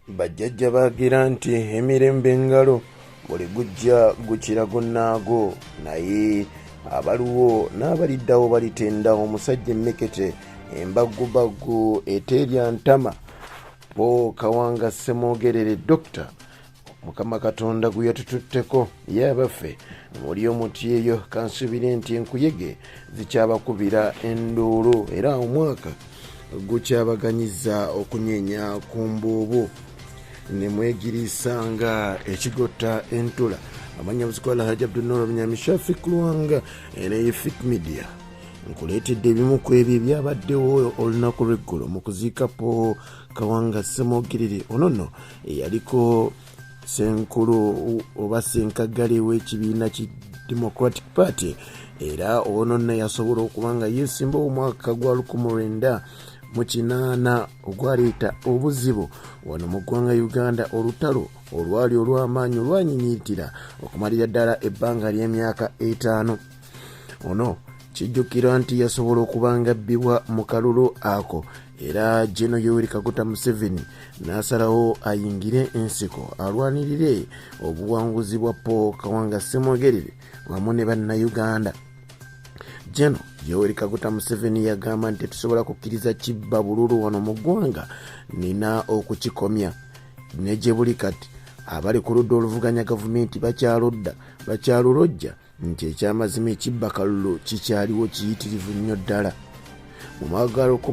bajjajja baagira nti emirembe engalo buli gujja gukira gunnaago naye abaliwo n'abaliddawo balitenda omusajja emmekete embaggubaggu eteerya ntama bo kawanga ssemwogerere dokita mukama katonda gwe yatututteko ye abaffe muli omuti eyo kansubire nti enkuyege zikyabakubira enduulu era omwaka gukyabaganyiza okunyenya ku mbuubu ne mwegiriisa nga ekigotta entula amanya buzikola haji abdunor bunyamishafi kulwanga era ye fit media nkuleetedde ebimu ku ebyo ebyabaddewo olunaku lweggulo mu kuziika po kawanga semogirire onono eyaliko senkulu oba senkaggale w'ekibiina ki democratic party era ononna yasobola okuba nga yeesimba omwaka gwa 19 mu kinaana ogwaleeta obuzibu wano mu ggwanga uganda olutalo olwali olw'amaanyi olwanyinyiitira okumalira ddala ebbanga ly'emyaka etaano ono kijjukirwa nti yasobola okuba nga bbibwa mu kalulu ako era jeno yoweri kaguta museveni n'asalawo ayingire ensiko alwanirire obuwanguzi bwa paul kawanga semwogerere wamu ne bannayuganda jeno yoweri kaguta museveni yagamba nti tusobola kukkiriza kibba bululu wano mu ggwanga nina okukikomya ne gye buli kati abali ku ludda oluvuganya gavumenti bakyaludda bakyalulojja nti ekyamazima ekibba kalulu kikyaliwo kiyitirivu nnyo ddala mu mwagalo ku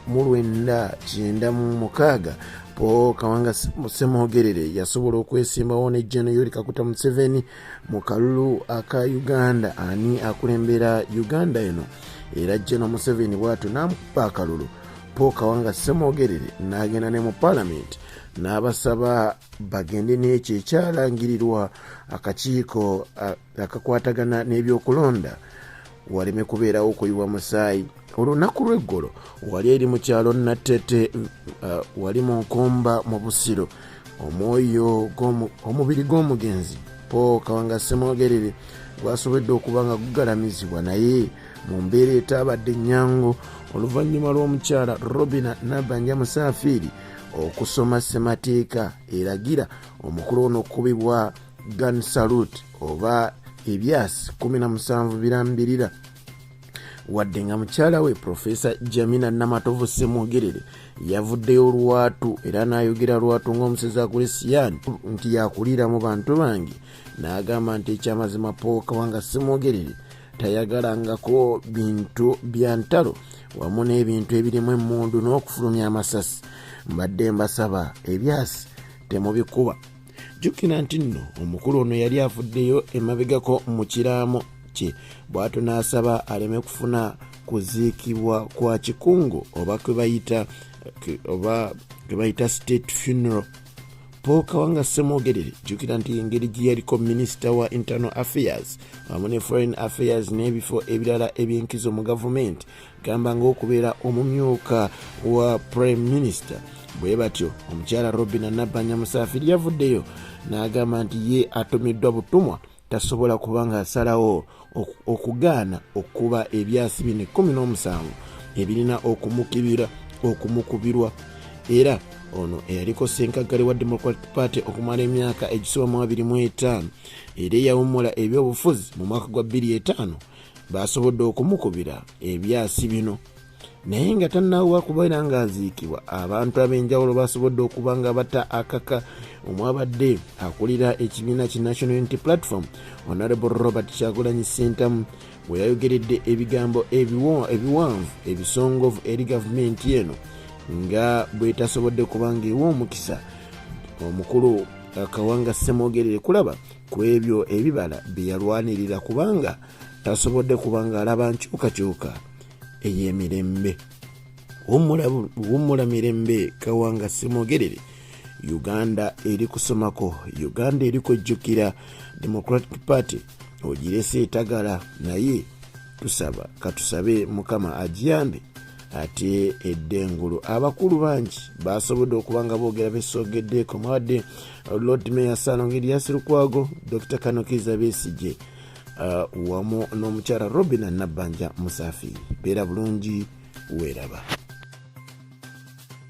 mu lwenda kyenda mu mukaaga paul kawanga semwogerere yasobola okwesimbawo ne jeno yoli kakuta museveni mu kalulu aka uganda ani akulembera uganda eno era jeno museveni bwatyo namukuba akalulu paul kawanga semwogerere n'agenda ne mu palamenti n'abasaba bagende n'ekyo ekyalangirirwa akakiiko akakwatagana n'ebyokulonda waleme kubeerawo kuyiwa musaayi olunaku lw'eggulo wali eri mu kyalo natete uh, wali mu nkomba mu busiro omwoyo omubiri gw'omugenzi paul kawanga semwogerere gwasobodde okuba nga gugalamizibwa naye mu mbeera etaabadde ennyangu oluvannyuma lw'omukyala robina nabanja musaafiiri okusoma ssemateeka eragira omukulu ono okukubibwa gan salut oba ebyasi 17 birambirira wadde nga mukyala we profesa jamina namatovu semwogerere yavuddeyo olwatu era n'ayogera lwatu ng'omusezi akuli siyani nti yakuliira mu bantu bange n'agamba nti ekyamazima pookawanga semwogerere tayagalangako bintu bya ntalo wamu n'ebintu ebirimu emmundu n'okufulumya amasasi mbadde mbasaba ebyasi temubikuba jjukira nti nno omukulu ono yali avuddeyo emabegako mu kiraamo kye bw'ato n'asaba aleme kufuna kuziikibwa kwa kikungo oba kwebayita oba kwebayita state funeral paul kawanga semwogerere jjukira nti engeri gye yaliko minisita wa internal affairs wamu ne foreign affairs n'ebifo ebirala eby'enkizo mu gavumenti gamba ng'okubeera omumyuka wa prime minister bwe batyo omukyala robina nabbanja musaafiri yavuddeyo n'agamba nti ye atumiddwa butumwa tasobola kuba ng'asalawo okugaana okukuba ebyasi bino ekkumi n'omusanvu ebirina okumukibira okumukubirwa era ono eyaliko senkaggale wa democratic party okumala emyaka egisoba mu 25 era eyawummula ebyobufuzi mu mwaka gwa 25 baasobodde okumukubira ebyasi bino naye nga tannaawuwa kubeera ng'aziikibwa abantu ab'enjawulo baasobodde okuba nga bata akaka omwabadde akulira ekibiina ki national unity platform honorable robert kyagulanyi sentamu bwe yayogeredde ebigambo ebiwanvu ebisongovu eri gavumenti eno nga bwetasobodde kubanga ewa omukisa omukulu akawanga ssemwogerere kulaba ku ebyo ebibala bye yalwanirira kubanga tasobodde kubanga alaba nkyukakyuka ey'emirembe wummula mirembe kawanga simogerere uganda eri kusomako uganda eri kwejjukira democratic party ogirese etagala naye tusaba katusabe mukama agiyambe ate eddengulu abakulu bangi basobodde okuba nga boogera besogeddeeko mwawadde uh, lord mayor salonga eliasi lukwago dr kanokiza besigye uh, wamu n'omukyala robina nabbanja musafi beera bulungi weeraba